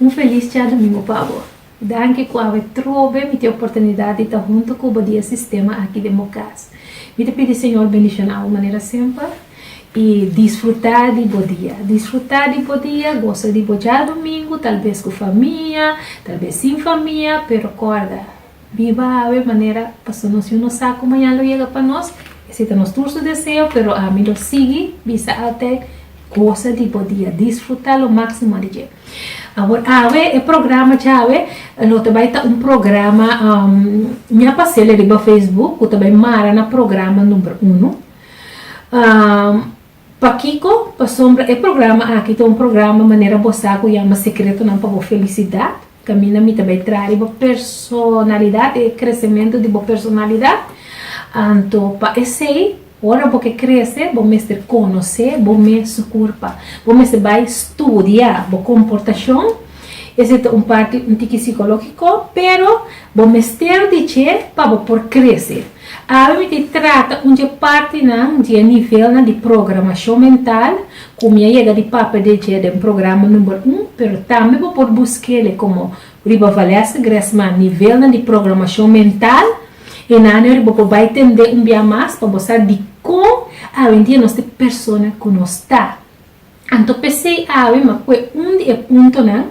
Un felis Djadumingu pa bo. Danki ku awe trobe mi tin oportunidat di ta huntu ku bo di e sistema aki den bo kas. Mi ta pidi Señor bendishoná bo manera semper i disfrutá di bo dia. Disfrutá di bo dia, gosa di bo djadumingu, talbes ku famia, talbes sin famia, pero korda, Biba awe manera pasobra nos yu no sa ku mañan lo yega pa nos, ese ta nos tur su deseo, pero ami lo sigui bisa alter kosa di bo dia, disfruta lo maksimo di dje. Awor awe e programa djawe lo ta bai ta un programa, mi a pas'el e riba facebook, ku ta bai mara na programa number uno. Pakiko? Pasobra e programa aki ta un programa manera bo sa ku yama Sekretonan pa bo felisidat. Kaminda mi ta bai tradi bo personalidat, e kresementu di bo personalidat. Anto pa esei, ora bo ke krese, bo mester konosé bo mes su kurpa. Bo mester bai studia bo komportashon. Esei ta un parti un tiki sikológiko, pero bo mester di dje pa bo por krese. Awe mi ta e trata un dje partinan di e nivelnan di programashon mental ku mi a yega di papia di dje den programa number un, pero tambe bo por busk'e komo riba Valesca Gresman, Nivelnan di programashon mental. Hinane yori bo por bai tende un bia mas pa bo sa dikon awendia nos ta e persona ku nos ta. Anto p'esei awe ma kue un di e puntonan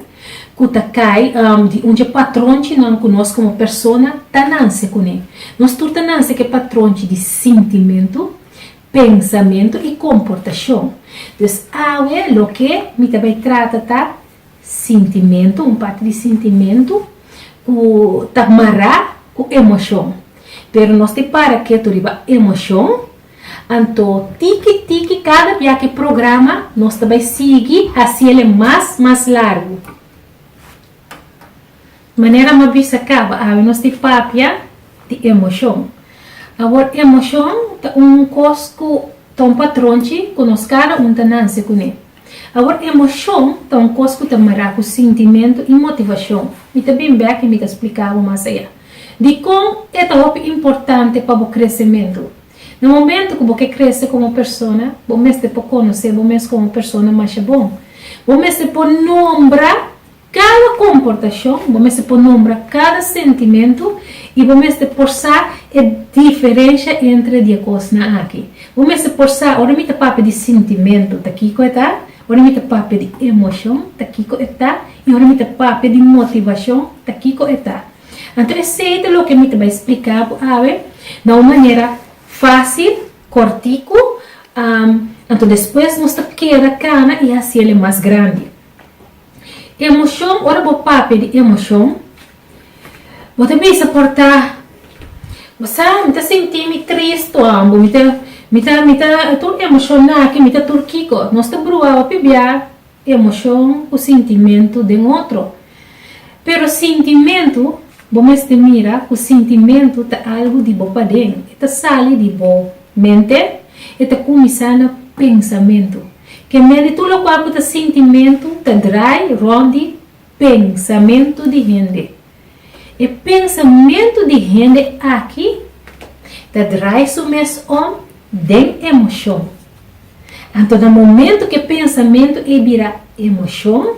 ku ta kai di un dje patronchinan ku nos komo persona ta nanse kuné. Nos tur ta nanse ku e patronchi di sintimentu, pensamentu i komportashon. Pues awe loke mi ta bai trata ta sintimentu, un parti di sintimentu ku ta mará ku emoshon. Pero nos te para ketu riba emoshon Anto tiki tiki kada bia ki programa nos ta bai sigui hasiel e mas mas largu. Manera ma bisa kaba awe nos di papia di emoshon. Awor emoshon ta un kos ku ta un patronchi ku nos kada un ta nanse kuné. Awor, emoshon ta un kos ku ta mará ku sintimentu i motivashon. Mi ta bin bèk i mi ta spliká bo mas ayá dikon e ta hopi importante pa bo kresementu. Na momentu ku bo ke krese komo persona, bo mester por konosé bo mes komo un persona masha bon. Bo mester por nombra Cada comportacion, bo mester por nombra cada sentimento y bo mester por sa e diferencia entre di e cosnan aki. Bo mester por sa ora mi ta papia di sintimento, ta kico e ta, ora mi ta papia di emocion, ta kico e ta y ora mi ta papia di motivacion, ta kico e ta. Anto esey ta loke mi ta bay splica bo awe na un manera facil, cortico, anto despues nos ta keda cana y haciele mas grandi. Emocion, ora bo papia di emocion, bo ta bisa por ta, bo sa, mi ta sinti mi tristu ambo, mi ta, mi ta, mi ta tur emocion aki, mi ta tur kico. Nos ta bruawa pibia emocion cu sintimentu den otro. Pero sintimentu, bo mester mira cu sintimentu ta algu di bo paden. E ta sali di bo mente, e ta cuminsa na pensamentu. Ke méritu lokual ku ta sintimentu ta drai rònt di pensamentu di hende. E pensamentu di hende aki ta drai su mes om den emoshon. Anto na momentu ke pensamentu ei bira emoshon,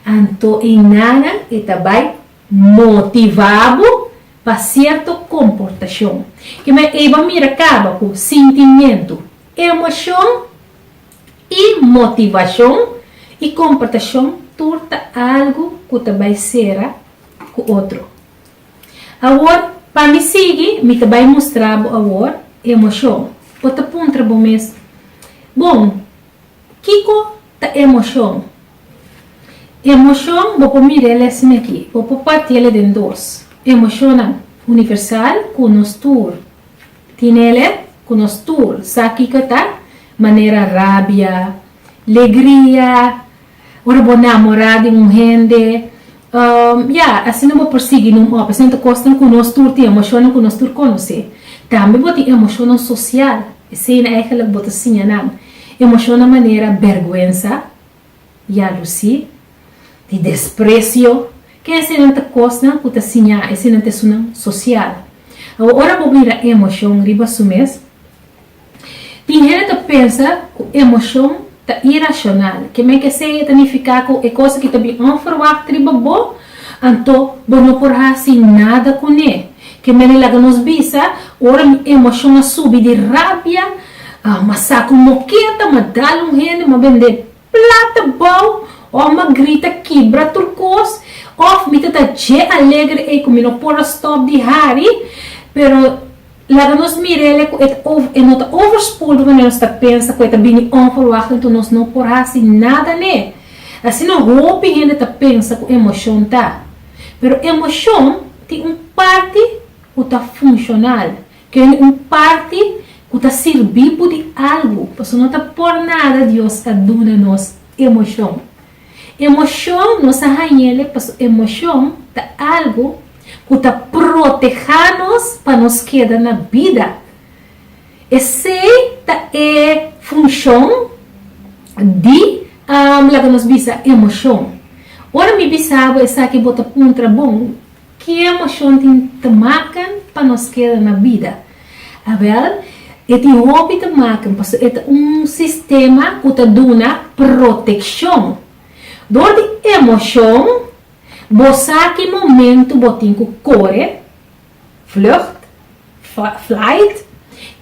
anto ei nanan e ta bai motivá bo pa sierto komportashon. Kimes eiba mira kaba ku sintimentu, emoshon I motivashon i komportashon tur ta algu ku ta bai sera ku otro. Awor, pa mi sigui, mi ta bai mustra bo awor emoshon. Bo ta puntra bo mes, Bon, kiko ta emoshon? Emoshon bo por mira el esei aki, bo por partiel e den dos, emoshonnan universal ku nos tur. Tinele ku nos tur sa kiko ta manera rabia, legria, ora bo namorá di un hende. Ya, asina bo por sigui num òf. Esnan ta kosnan ku nos tur tin, emoshonnan ku nos tur konosé. Tambe bo tin emoshonnan sosial, esei na eigenlijk bo ta siña nan. Emoshonnan manera bèrgwensa, Ya lo si, di desprecio. Ke esenan ta kosnan ku ta siñá esenan ta esunan sosial. Awa ora bo mira emoshon riba su mes, tin hende ta pensa ku emoshon ta irashonal. Ke men ke seña ta nifiká ku e kos aki ta bin onverwagt riba bo, anto bo no por hasi nada kuné. Ke men a laga nos bisa, ora mi emoshon a subi di rabia, Ah, ma sa ku mokea ta madal un hende, ma bend'é plata bou, òf ma grita kibra tur kos, òf mi ta ta dje alegre ei ku mi no por a stòp di hari. Pero laga nos mir'el ku e ta over, e no ta overspoeled wanneer nos ta pensa ku e ta bini onverwacht enton nos no por hasi nada n'e. Asina hopi hende ta pensa ku emoshon ta. Pero emoshon tin un parti ku ta funshonal. Tene un parti cu ta sirbi bo di algo, pasobra no ta por nada Dios a duna nos emocion. Emocion nos a hañele pasobra emocion ta algo cu ta proteha nos pa nos keda na bida. Esey ta e funcion di laga nos bisa emocion. Ora mi bisa bo esaki bo ta puntra, Bon, Ke emoshon tin te maken pa nos keda na bida? Awèl, e tin hopi te maken pasobra e ta un sistema ku ta duna protekshon. Dor di emoshon, bo sa ki momentu bo tin ku kore, vlucht, flight,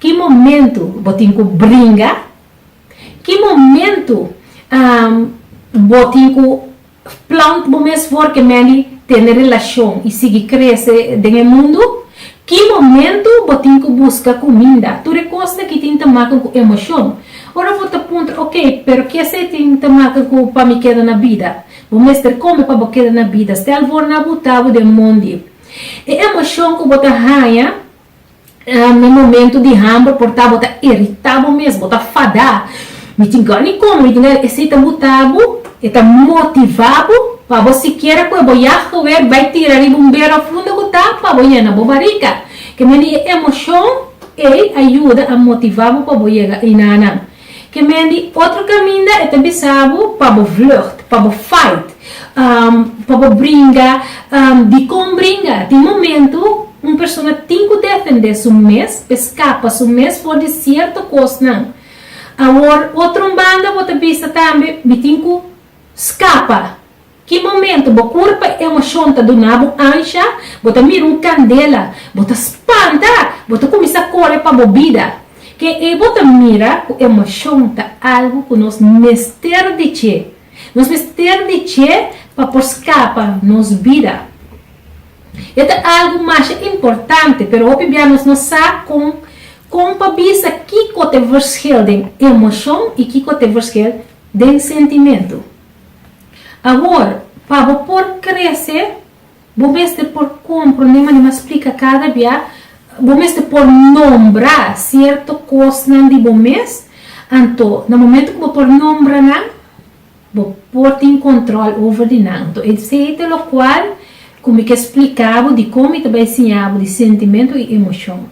ki momentu bo tin ku bringa, ki momentu bo tin ku. Plant bo mes for ke Melly tene relashon i sigui krese den e mundu? Ki momentu bo tin ku buska kuminda? Tur e kosnan ki tin ta makan ku emoshon. Ora bo ta puntra, ok, pero ki esei tin ta makan ku pa mi keda na bida? Bo mester kome pa bo keda na bida. Stèl vòrna a buta bo den mondi. E emoshon ku bo ta haña Na momento di hamber por ta bo ta irita bo mes, bo ta fada. Mi tin gana di come, mi tin gana di esey ta buta bo, e ta motiva bo pa bo sikiera cu e bo yah gewer bay tira riba un bera funda cu ta pa bo yena bo barica. Kende di e emocion ey a yuda a motiva bo pa bo yega eyna'nan. Ke men di otro kaminda e ta bisa bo pa bo vlucht, pa bo fight, pa bo bringa. Dikon bringa? Tin momentu un persona tin ku defendé su mes, pa e skapa su mes for di sierto kosnan. Awor, otro un banda bo ta bisa tambe mi tin ku skapa. Ki momento bo kura pa e emocion ta duna bo ansha, bo ta mira un candela, bo ta spanta, bo ta cuminsa core pa bo bida. Ke ei bo ta mira cu emocion ta algo cu nos mester di dje. Nos mester di dje pa por scapa nos bida. E ta algo masha importante, pero hopi bia nos no sa con con pa bisa kico t'e verschil den emocion y kico t'e verschil den sentimento. Awor, pa bo por krese, bo mester por komprondé manera mas splika kada bia, bo mester por nombra sierto kosnan di bo mes, anto na momentu ku bo por nombra nan, bo por tin kòntròl over di nan. Anto esei ta lokual ku mi ke splika bo dikon mi ta bai siña bo di sentimentu i emoshon.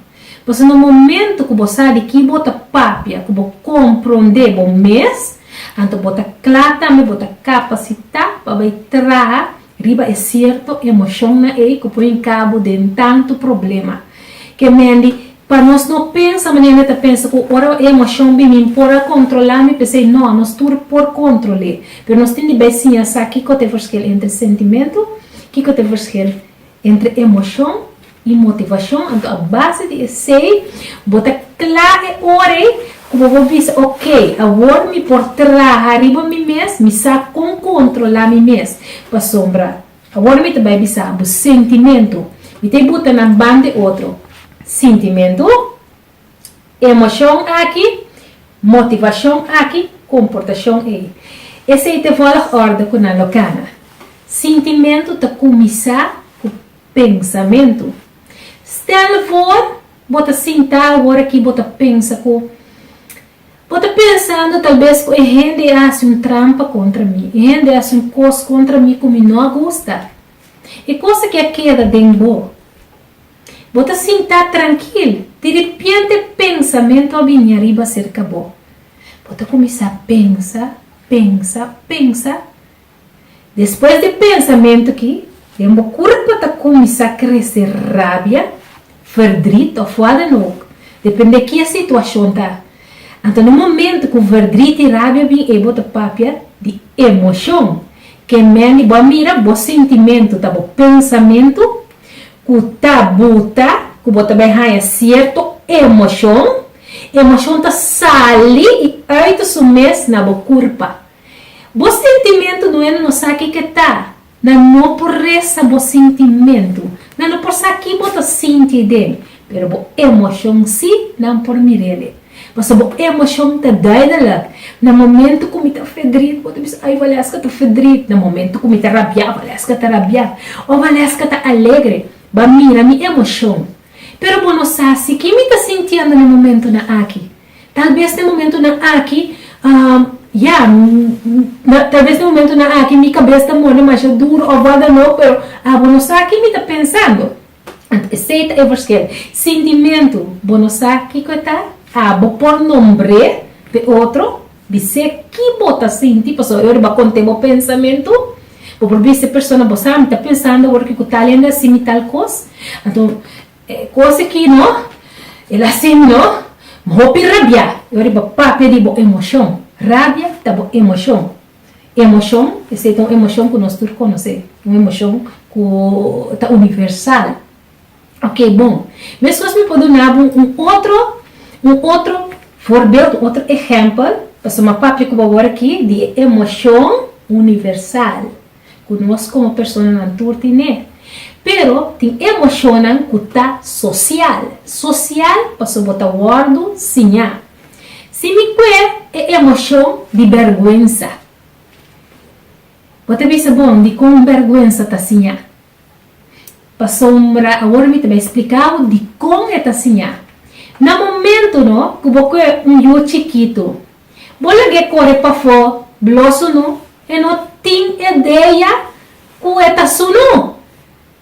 Pasobra na momentu ku bo sa di ki bo ta papia, ku bo komprondé bo mes, Anto bo ta kla tambe bo ta kapasitá pa bai traha riba e sierto emoshonnan ei ku pone kabu den tantu problema. Ke mendi pa nos no pensa manera mi ta pensa ku ora e emoshon bini mi por a kontrolá mi p'esei. No, nos tur por kontrol'é, pero nos tin di bai siña sa kiko ta e verschil entre sentimentu, kiko ta e verschil. Entre emocion y motivacion, anto a base di esey bo ta cla e ora ey cu bo por bisa, ok, awor mi por traha riba mi mes, mi sa con controla mi mes, pasobra awor mi ta bay bisa abo sentimento, mi ta e buta nan banda e otro, sintimentu. Emocion aki, motivacion aki, comportacion ey. Esey ta e volgorde cu nan lo cana. Sintimentu ta cuminsa cu pensamentu. Stel voor bo ta sinta awor aki bo ta pensa cu, Bo ta pensando tal bes cu e hende a haci un trampa contra mi, e hende a haci un cos contra mi cu mi no a gusta. E cos aki a keda den bo. Bo ta sintá trankil. Diripiente pensamentu a bini ariba aserka bo. Bo ta kuminsá pensa, pensa, pensa. Despues di e pensamentu ki, den bo kurpo ta kuminsá krese rabia, verdrit òf wadan òk, dependé ki e situashon ta. Anto na momentu ku verdrit i rabia bin ei bo ta papia di emoshon. Ke mendi bo a mira bo sintimentu ta bo pensamentu. Ku ta buta ku bo ta bai haña sierto emoshon, emoshon ta sali i ùit su mes na bo kurpa. Bo sintimentu no e na no sa ke ke ta, nan no por resa bo sintimentu, nan no por sa ki bo ta sinti den, pero bo emoshon si nan por mir'el e. Pasobra bo emocion ta duidelijk. Na momento cu mi ta fedrit, bo ta bisa, Ay, Valesca ta fedrit. Na momento cu mi ta rabia, Valesca ta rabia. O Valesca ta alegre. Ba mira mi emocion. Pero bo no sa si ki mi ta sintiendo na momentonan aki. Tal bes na e momentonan aki, ya, tal bes na e momentonan aki mi cabes ta mor demasha duro of wat dan ook, pero abo no sa ki mi ta pensando. Esei ta e forskel. Sintimentu, bo no sa kiko e ta? A bo por nombr'é pa e otro? Bis'é ki bo ta sinti, pasobra e ora bo a kont'é bo pensamentu, bo por bis'e persona, bo sa mi ta pensando awor ke ku tal hende a hasi mi tal kos, anto e kos aki no, el a hasi mi no, mi hopi rabiá. E ora bo papia di bo emoshon. Rabia ta bo emoshon. E emoshon, esei ta un emoshon ku nos tur konosé, un emoshon ku ta universal. Oke, bon, meskos mi por duna bo un otro, un otro voorbeeld, un otro ehèmpel, pasobra mi a papia ku bo awor aki di e emoshon universal ku nos komo personanan tur tin n'e. Pero tin emoshonnan ku ta sosial, sosial pasobra bo ta wòrdu siñá, Si mi kue e emoshon di bèrgwensa, bo ta bisa bon dikon bèrgwensa ta siñá. Pasobra awor mi ta bai spliká bo dikon e ta siñá. Na momentunan ku bo kue un yu chikitu, bo lag'é kore pafó bloso nu e no tin ideya ku e ta su nu.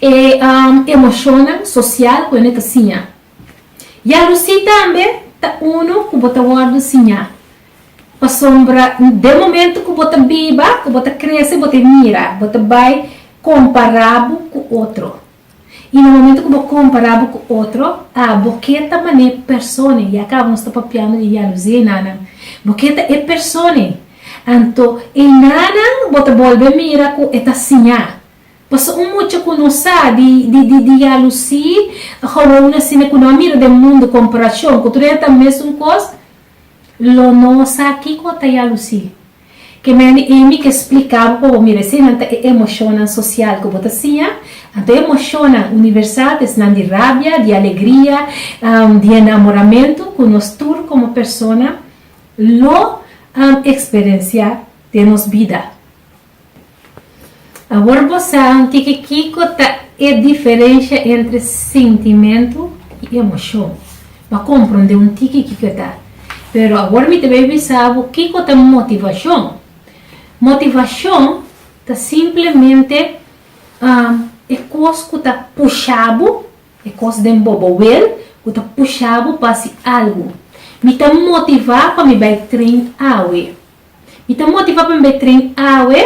E emoshonnan sosial ku hende ta siña. Yalosí tambe ta unu ku bo ta wòrdu siñá. Pasobra den momentu ku bo ta biba, ku bo ta krese, bo ta e mira, bo ta bai kompará bo ku otro. I na momentu ku bo kompará bo ku otro, a bo ke ta man'é persona ei. Ya kaba nos ta papiando di yalosí enanan. Bo ke ta e persona ei. Anto, enanan bo ta bolbe mira ku e ta siñá. Pasobra un mucha ku no sa di di di ya lusí gewoon asina ku no a mira den mundu komparashon ku tur esa ta mesun kos, lo no sa kiko ta ya lusí. Ke mende Amy ke splika bo pa bo mira eseinan ta e emoshonnan sosial ku bo ta siña. Anto e emoshonnan universal ta esnan di rabia, di alegria, di enamoramentu ku nos tur komo persona lo eksperensiá den nos bida. Awor bo sa anti ke kiko ta e diferensha entre sintimentu i emoshon. B'a kompronde un tiki kiko ta. Pero awor mi ta bai bisa bo kiko ta motivashon. Motivashon ta simplemente e kos ku ta pusha bo, e kos den bo bo wel ku ta pusha bo pa hasi algu. Mi ta motivá pa mi bai tren awe. Mi ta motivá pa mi bai tren awe?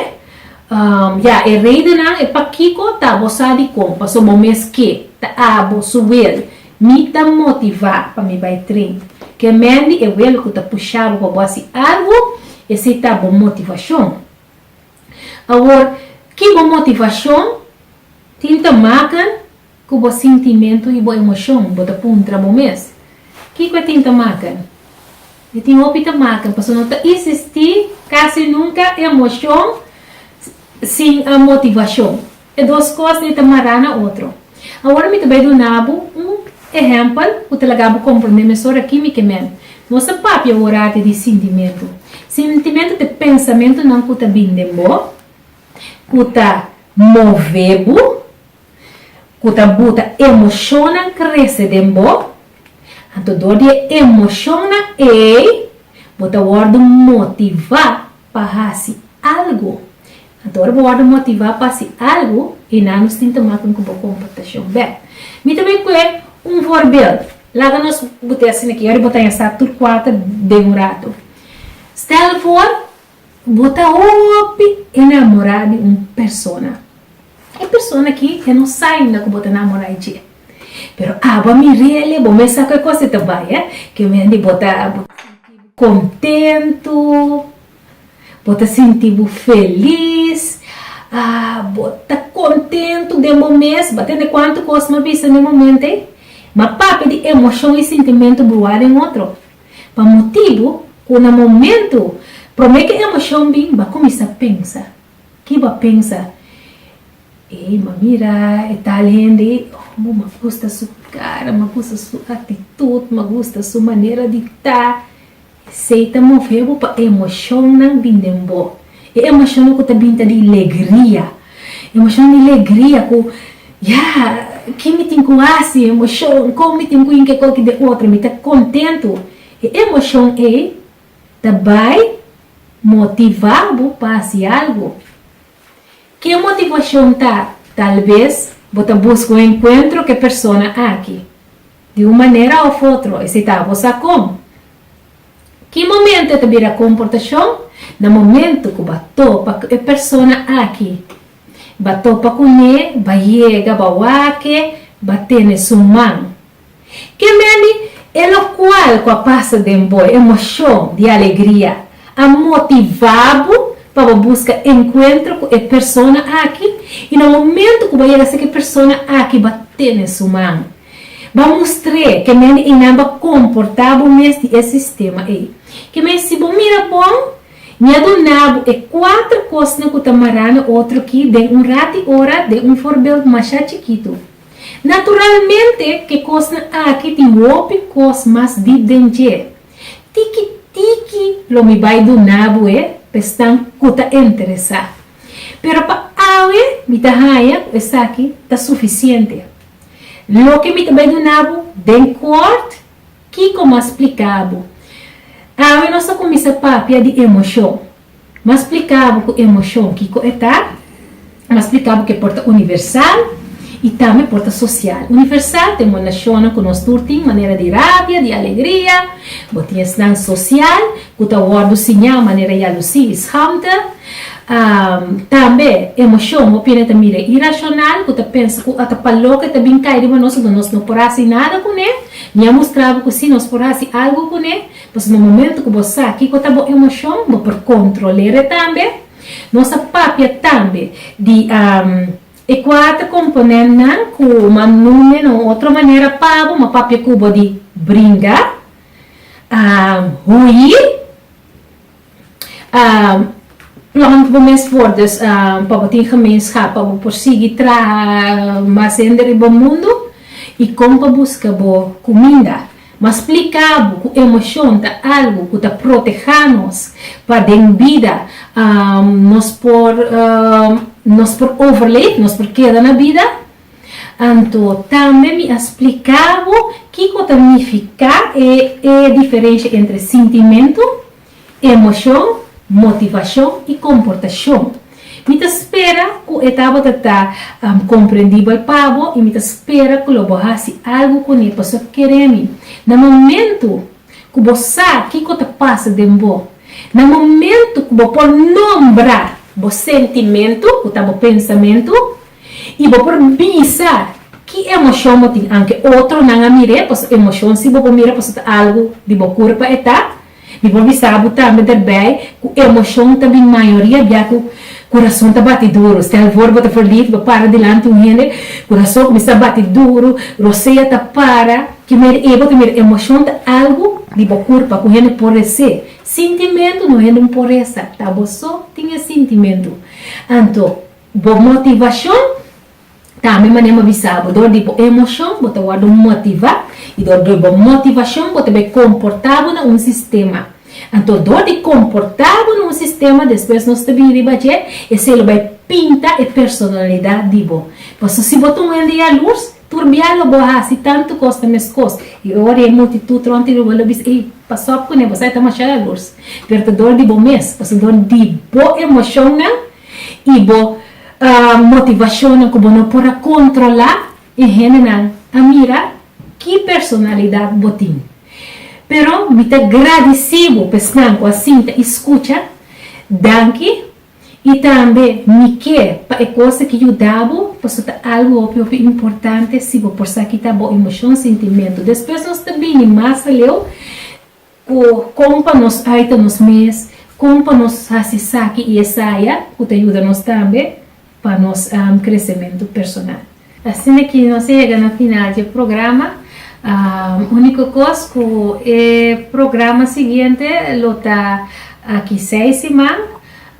Umm, ya, e redennan e pakiko ta bo sa di kon, paso bo mes ke ta abo su wel. Mi ta motivá pa mi bai tren. Ke mendi e wel ku ta pushá bo pa bo hasi algu? Esei ta bo motivashon. Awor, ki bo motivashon tin ta makan? Ku bo sintimentu i bo emoshon bo ta puntra bo mes, Kiko e tin ta makan? E tin hopi ta makan, paso no ta isistí kasi nunka emoshon sin motivashon. E dos kos dei ta mará na otro. Awor mi ta bai duna bo un ehèmpel ku ta laga bo komprondé mesora ki mi ke men. Nos ta papia ora te di sintimentu. Sintimentu ta e pensamentunan ku ta bin den bo, ku ta move bo. ku ta buta emoshonnan krese den bo, anto dor di e emoshonnan ei bo ta wòrdu motivá pa hasi algu. Anto ora bo wòrdu motivá pa hasi algu, e nanus tin ta maku ku bo komportashon bèk. Mi ta bai ku e un forbeldu. Laga nos butea asina aki, ora bo ta yensá tur kuater den un ratu. Stèl for Bo ta hopi enamorá di un persona. E persona ki e no sa ainda ku bo ta namorá dje. Pero aba mi rele, bo mes sa ku e kos e ta bai, eh? Ke wendi bo ta sinti bo kontentu, bo ta sinti bo felis, ah, bo ta kontentu den bo mes. Bo a tende kuantu kos mi a bisa na e momentu ei. Mi a papia di emoshon i sintimentu bruhá den otro. Pa motibu ku na momentu promé ku e emoshon bin, bo a kuminsá pensa. Ki bo a pensa? Ei, m'a mira e tal hende, oh, m'a gusta su kara, m'a gusta su atitut, m'a gusta su manera di ta. Esei ta move bo pa emoshonnan bin den bo. E emoshonnan ku ta bin ta di legria. Emoshonnan di legria ku, Ya! Kin mi tin ku hasi? Emoshon, Kon mi tin ku yinka e koki den otro? Mi ta kontentu. E emoshon ei ta bai motivá bo pa hasi algu. Ke motivashon ta? Talves bo ta buska un enkuentro ku e persona aki. Di un manera òf otro, esei ta abo sa kon. Ki momentu e ta bira komportashon? Na momentu ku ba topa ku e persona aki. Ba topa kuné, ba yega, ba wake, ba tene su man. Ke meni e lokual ku a pasa den bo, e emoshon di alegria, a motivá bo pa bo buska enkuentro ku e persona aki? I na momentu ku ba yega sta ku e persona aki, ba tene su man. Bo a mustr'é ke men i nan bo a komportá bo mes di e sistema ei. Ke men si bo mira bon, mi a duna bo e kuater kosnan ku ta mará na otro ki den un rati ora den un forbeld mashá chikitu. Naturalmente ke kosnan aki tin hopi kos mas dip den dje. Tiki tiki lo mi bai duna boe pa esnan ku ta interesá. Pero pa awe mi ta haña ku esaki ta sufisiente. Loke mi ta bai duna bo den kort, kiko mas splika bo? Awe nos ta kuminsá papia di emoshon. Mas splika bo ku emoshon kiko e ta. Mas splika bo ku e por ta universal i tambe por ta sosial. Universal, ta e monashonnan ku nos tur tin, manera di rabia, di alegria. Bo tin esnan sosial. ku ta wòrdu siñá manera ya lo si i schaamte. Tambe emoshon, opina ta mira irashonal, ku ta pensa ku ata palòk e ta bin kai riba nos unda nos no por hasi nada kuné. Mi a mustra bo ku sí, nos por hasi algu kuné. Pasobra na momentu ku bo sa kiko ta bo emoshon, bo por kontrol'é ré tambe. Nos a papia tambe di e kuater komponentnan ku m'a num'é na un otro manera pa bo. M'a papia ku bo di bringa. Hui plant bo mes for dus pa bo tin gemenschap pa bo por sigui traha mas hende riba mundu y con pa busca bo cuminda. Mas splica bo cu emocion ta algo cu ta proteha nos pa den bida nos por overleef, nos por keda na bida. Anto, tambe mi a spliká bo kiko ta nifiká e e diferensha entre sintimentu, emoshon, motivashon i komportashon. Mi ta spera ku e tabata ta komprendibel pa bo i mi ta spera ku lo bo hasi algu kuné pasobra bo kere mi. Na momentu ku bo sa kiko ta pasa den bo, na momentu ku bo por nombra bo sentimentu, ku ta bo pensamentu, I bo por bisa ki emoshon bo tin anke otronan a mir'é, paso emoshon si bo por mira paso ta algu di bo kurpa e ta. Mi por bisa bo tambe derbei ku emoshon ta bin mayoria bia ku kurason ta bati duru. Stèl vòr bo ta verliefd, bo para dilanti un hende ku rason kuminsá bati duru, rosea ta para. Ki meri ei bo ta mira emoshon ta algu di bo kurpa ku hende por res'é. Sintimentu no hende un poresa, ta bo so tin e sintimentu. Anto. Bo motivashon. Tambe manera mi a bisa bo, dor di bo emoshon bo ta wòrdu motivá, i dor di bo motivashon bo ta bai komportá bo na un sistema. Anto dor di komportá bo na un sistema, despues nos ta bini riba dje, esei lo bai pinta e personalidat di bo. Paso si bo ta un hende yalurs, tur bia lo bo hasi tantu kos na meskos, i ora e multitut rònt di bo lo bisa, ei, pasòp kuné, bo sa e ta masha yalurs. Pero ta dor di bo mes, paso dor di bo emoshonnan. I bo motivashonnan ku bo no por a kontrolá e hendenan a mira ki personalidat bo tin. Pero mi ta gradisí bo pa esnan ku a sinta i skucha. Danki. I tambe mi ke pa e kos aki yuda bo, paso ta algu hopi hopi importante. Si bo por sa kita bo emoshon, sintimentu. Despues nos ta bini mas aleu Ku kon pa nos aita nos mes, kon pa nos hasi esaki i esaya ku ta yuda nos tambe pa nos kresementu personal. Asina ke nos a yega na final dje programa. Uniko kos ku e programa siguiente lo ta aki seis siman,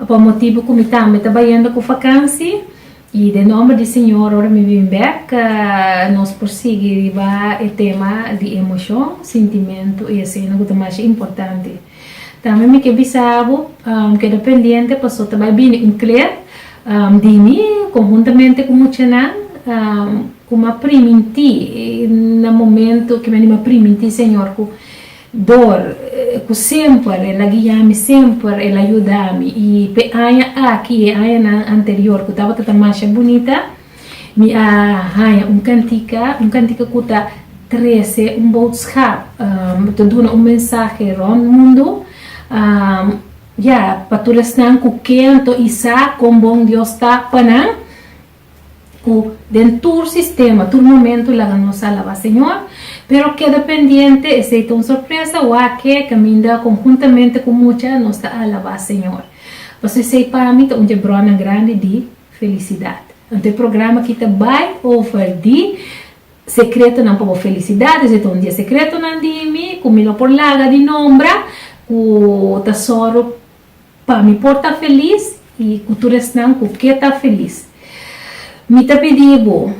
pa motibu ku mi tambe ta bayendo ku fakansi. I den nomber di Señor ora mi bin bek, nos por sigui riba e tema di emoshon, sintimentu i asina ku ta masha importante. Tambe mi ke bisa bo, keda pendiente paso ta bai bini un kler di mi konhuntamente ku muchanan ku m'a primintí na momentu ke mi a primintí Señor ku Dor, ku semper el a guia mi, semper el a yuda mi, i p'e aña aki i e añanan anterior ku tabata ta masha bunita, mi a haña un kantika, un kantika ku ta trese un boodschap, ta duna un mensahe rònt mundu, ya, pa tur esnan ku kento i sa kon bon Dios ta pa nan. Cu den tur sistema, tur momento laga nos alaba Señor. Pero keda pendiente, esey ta un sorpresa, wak e caminda conjuntamente cu mucha nos ta alaba Señor. Pasobra esey pa mi ta un dje bronan grandi di felicidad. Anto e programa aki ta bay over di secretonan pa bo felicidad. Esey ta un dje secretonan di mi, cu mi no por laga di nombra, cu ta soro. Pa mi por ta felis y cu tur esnan cu ke ta felis. Mi ta pidi bo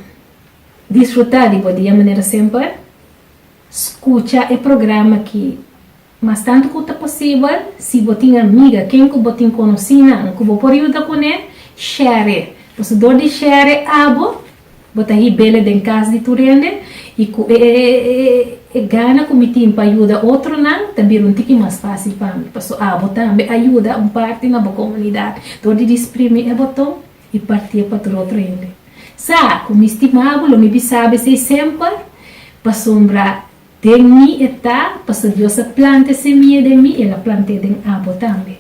disfruta di bo dia manera semper. Scucha e programa ki mas tanto cu ta posibel. Si bo tin amiga, ken cu bo tin conoci nan cu bo por yuda cune, share. Pasobra dor di share abo Bo ta hibele den cas di tur hende y cu e e gana cu mi tin pa yuda otronan ta bira un tiki mas facil pa mi, paso abo tambe a yuda un parti na bo comunidad dor di disprimi e boton y partie pa tur otro hende. Sa cu mi stima bo, lo mi bisabi esey semper, pasobra den mi e ta, paso Dios a planta e semilla den mi y el a plant'e den abo tambe.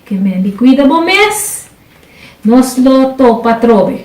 Ke men di cuida bo mes, nos lo topa atrobe.